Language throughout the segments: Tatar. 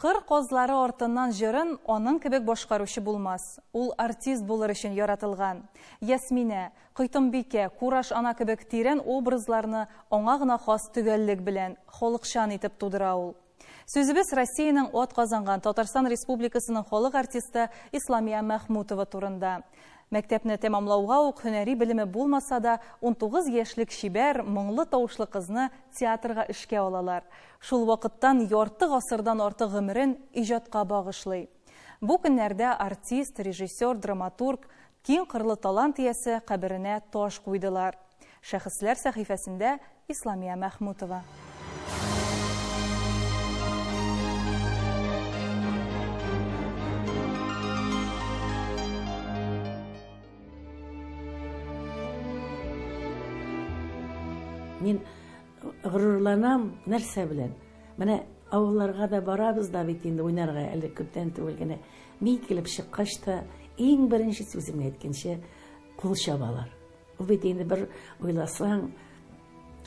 Кыр казлары артыннан җырын аның кебек башкаручы булмас. Ул артист булыр өчен яратылган. Ясминә, Койтымбикә, Кураш ана кебек тирән образларны аңа гына хас төгәллек белән, халыкчан итеп тудыра ул. Сүзебез Россиянең ат казанган Татарстан Республикасының халык артисты Исламия Мәхмүтова турында. Мәктәпне тәмамлауга ук һөнәри белеме булмаса да, унтугыз яшьлек чибәр, моңлы тавышлы кызны театрга эшкә алалар. Шул вакыттан ярты гасырдан артык гомерен иҗатка багышлый. Бу көннәрдә артист, режиссер, драматург, киң кырлы талант иясе каберенә таш куйдылар. Шәхесләр сәхифәсендә Исламия Мәхмүтова. Мин горурланам нәрсә белән? Менә авылларга да барабыз да бит инде уйнарга, әле күптән түгел генә. Мин килеп чыккач та, иң беренче сүземне әйткәнче, кул чабалар. Ул бит инде бер уйласаң,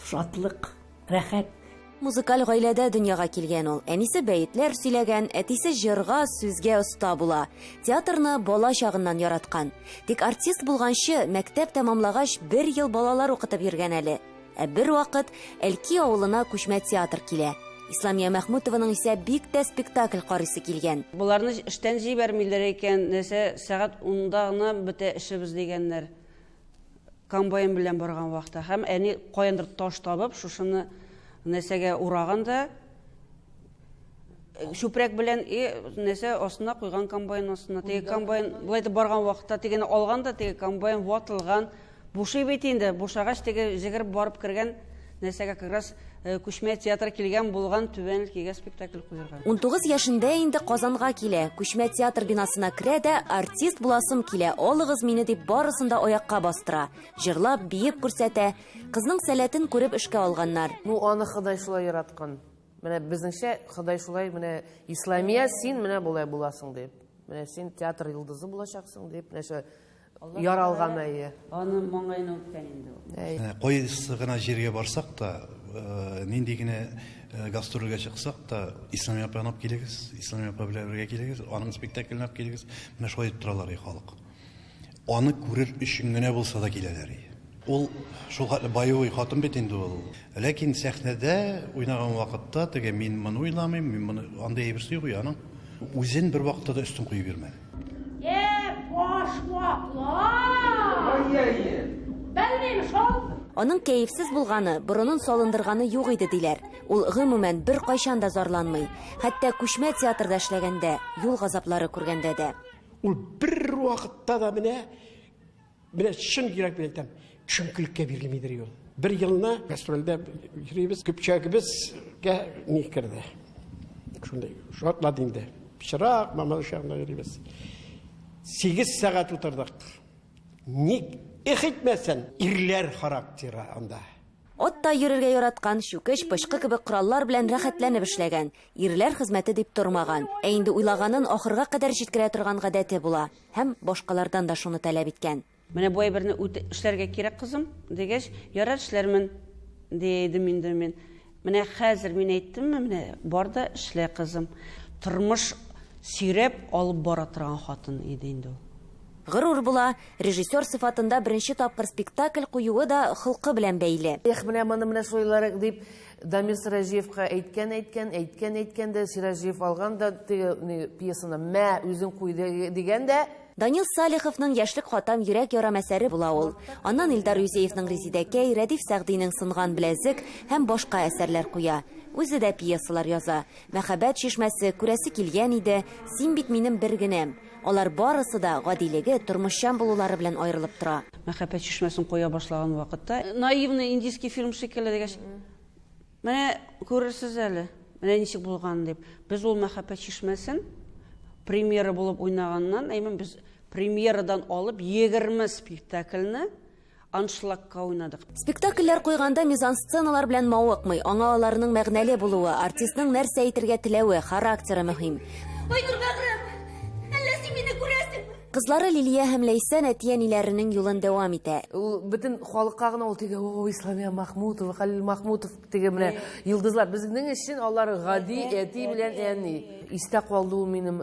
шатлык, рәхәт. Музыкаль гаиләдә дөньяга килгән ул. Әнисе бәетләр сөйләгән, әтисе җырга, сүзгә оста була. Театрны бала чагыннан яраткан. Тик артист булганчы, мәктәп тәмамлагач, бер ел балалар укытып йөргән әле. Ә бер вакыт Әлки авылына күчмә театр килә. Исламия Мәхмүтованың исә бик тә спектакль карыйсы килгән. Боларны эштән җибәрмиләр икән, нәрсә, сәгать унда гына бетә эшебез дигәннәр. Комбайн белән барган вакытта һәм әни каяндыр таш табып, шушыны нәрсәгә ураган да чүпрәк белән и нәрсә астына куйган комбайн астына. Теге комбайн болай барган вакытта тегене алган да теге комбайн ватылган. Бушый бит инде, бушагач теге җегереп барып кергән нәрсәгә как раз күчмә театр килгән булган түбән кигә спектакль куярга. Унтугыз яшендә инде Казанга килә, күчмә театр бинасына керә дә, артист буласым килә, алыгыз мине дип барысын да аякка бастыра, җырлап, биеп күрсәтә. Кызның сәләтен күреп эшкә алганнар. Ну аны Ходай шулай яраткан. Менә безнеңчә Ходай шулай менә Исламия син менә болай буласың дип. Менә син театр йолдызы булачаксың дип, нәрсә Яралган әйе. Аны маңгаена үткән инде ул. Ә, Кайсы гына җиргә барсак та, э, нинди генә э, гастрольгә чыксак та, Ислам апа янап килегез, Ислам апа белән бергә килегез, аның спектаклен ап килегез. Менә шулай дип торалар и халык. Аны күрер өчен генә булса да киләләр и. Ул шул хәтле боевой хатын бит инде ул. Ләкин сәхнәдә уйнаган вакытта теге мин моны уйламыйм, мин моны андый әйбер сүз юк аның. Үзен бер вакытта да өстен куеп йөрмәде. Э, баш ваклар! Белмим шул! Аның кәефсез булганы, борынын салындырганы юк иде, диләр. Ул, гомумән, беркайчан да зарланмый. Хәтта күчмә театрда эшләгәндә, юл газаплары күргәндә дә. Ул бервакытта да менә Менә чын йөрәк белән әйтәм, чөнкелеккә бирелмидер юл. Бер елны гастрольдә йөрибез, көпчәгебезгә ни керде. Шундый шартлады инде. Пычрак, мама ошагында йөрибез. 8 сәгать утырдык. Ник их итмәсен, ирләр характеры анда. Атта йөрергә яраткан, чүкеч, пычкы кебек кораллар белән рәхәтләнеп эшләгән. Ирләр хезмәте дип тормаган. Ә инде уйлаганын ахырга кадәр җиткерә торган гадәте була. Һәм башкалардан да шуны таләп иткән. Менә бу әйберне үт эшләргә кирәк, кызым, дигәч, ярар, эшләрмен, дидем инде мин. Менә хәзер мин әйттемме, менә бар да эшлә, кызым. Тормыш сөйрәп алып бара торган хатын иде инде ул. Горур була, режиссер сыйфатында беренче тапкыр спектакль куюы да холкы белән бәйле. Эх, менә моны менә сойларык, дип, Дамир Сираҗиевка әйткән әйткән, әйткән әйткән дә, Сираҗиев алган да теге ни, пьесаны, мә, үзең куй дигән дә, Данил Салиховның Яшьлек хатам йөрәк ярам әсәре була ул. Аннан Илдар Юзеевның Резидәкәй, Рәдиф Сәгъдинең Сынган беләзек һәм башка әсәрләр куя. Үзе дә пьесалар яза. Мәхәббәт чишмәсе, Күрәсе килгән иде, Син бит минем бер генәм. Алар барысы да гадилеге, тормышчан булулары белән аерылып тора. Мәхәббәт чишмәсен коя башлаган вакытта, наивный индийский фильм шикелле дигәч, менә күрерсез әле, менә ничек булганын дип. Без ул мәхәббәт чишмәсен премьера булып уйнаганнан, әймен, без премьерадан алып егерме спектакльне, аншлагка уйнадык. Спектакльләр куйганда мизансценалар белән мавыкмый, аңа аларның мәгънәле булуы, артистның нәрсә әйтергә теләве, характеры мөһим. Айнур бәгърем, әллә син мине күрәсеңме? Кызлары Лилия һәм Ләйсән әти-әниләренең юлын дәвам итә. Ул бөтен халыкка гына ул теге о Исламия Махмутова, Хәлил Махмутов теге менә йолдызлар. Безнең өчен алар гади әти белән әни. Истә калды ул минем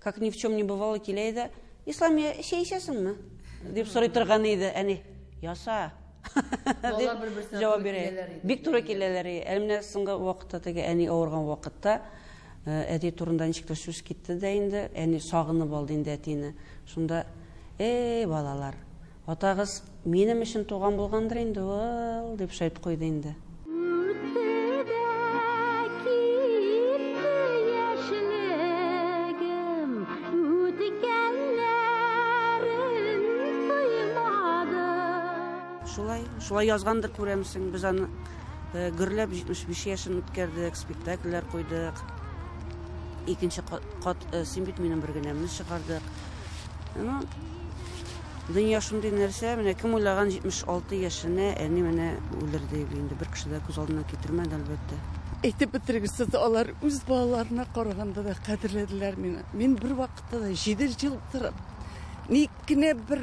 Как ни в чем не бывало килә иде. Исламия, чәй эчәсеңме? дип сорый торган иде. Әни, яса. Балалар бер-берсенә җавап туры бирә. киләләр иде. Бик туры киләләр. и. Әле менә соңгы вакытта теге әни авырган вакытта э, әти турында ничек тә сүз китте дә инде. Әни сагынып алды инде әтине. Шунда, эй, балалар, Атагыз минем өчен туган булгандыр инде ул, дип шәйт куйды инде. Шулай, шулай язгандыр күрәмсең, без аны э, гөрләп 75 яшен үткәрдек, спектакльләр куйдык. Икенче кат, кат э, син бит минем бер генәмне чыгардык. Ну, Дөнья шундый нәрсә, менә кем уйлаган 76 яшенә әни менә үлер диеп инде бер кеше дә күз алдына китермәде, әлбәттә. Әйтеп бетергесез, алар үз балаларына караганда да кадерләделәр мине. Мин бер вакытта да 7 ел торып, ник кенә бер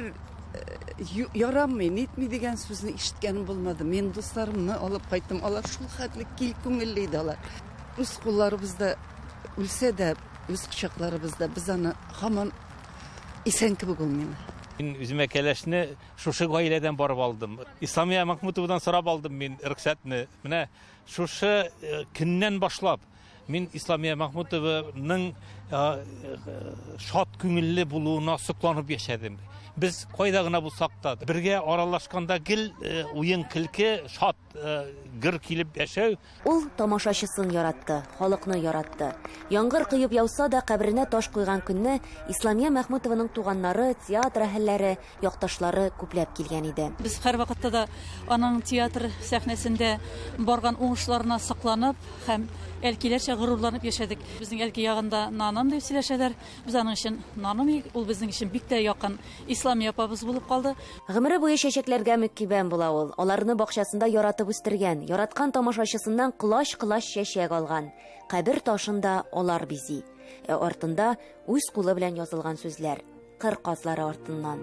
э, ярамый, нитми дигән сүзне ишеткәнем булмады. Мин дусларымны алып кайттым. Алар шул хәтле кил күңелле иде алар. Үз кулларыбызда үлсә дә, үз кочакларыбызда без аны һаман Исән кебек ул мин. Мин үземә кәләшне шушы гаиләдән барып алдым. Исламия Махмутовадан сорап алдым мин рөхсәтне. Менә шушы э, көннән башлап мин Исламия Махмутованың э, шат күңелле булуына сокланып яшәдем. Без кайда гына булсак та, бергә аралашканда гел э, уен көлке, шат гөр килеп яшәү. Ул тамашачысын яратты, халыкны яратты. Яңгыр коеп яуса да, каберенә таш куйган көнне Исламия Мәхмүтованың туганнары, театр әһелләре, якташлары күпләп килгән иде. Без һәрвакытта да аның театр сәхнәсендә барган уңышларына сокланып һәм әлкиләрчә горурланып яшәдек. Безнең әлки ягында наным дип сөйләшәләр. Без аның өчен наным, ул безнең өчен бик тә якын Исламия апабыз булып калды. Гомере буе чәчәкләргә мөккибән була ул. Аларны бакчасында яратып үстергән, яраткан тамашачысыннан колач-колач чәчәк алган. Кабер ташын да алар бизи. Ә артында үз кулы белән язылган сүзләр. Кыр казлары артыннан.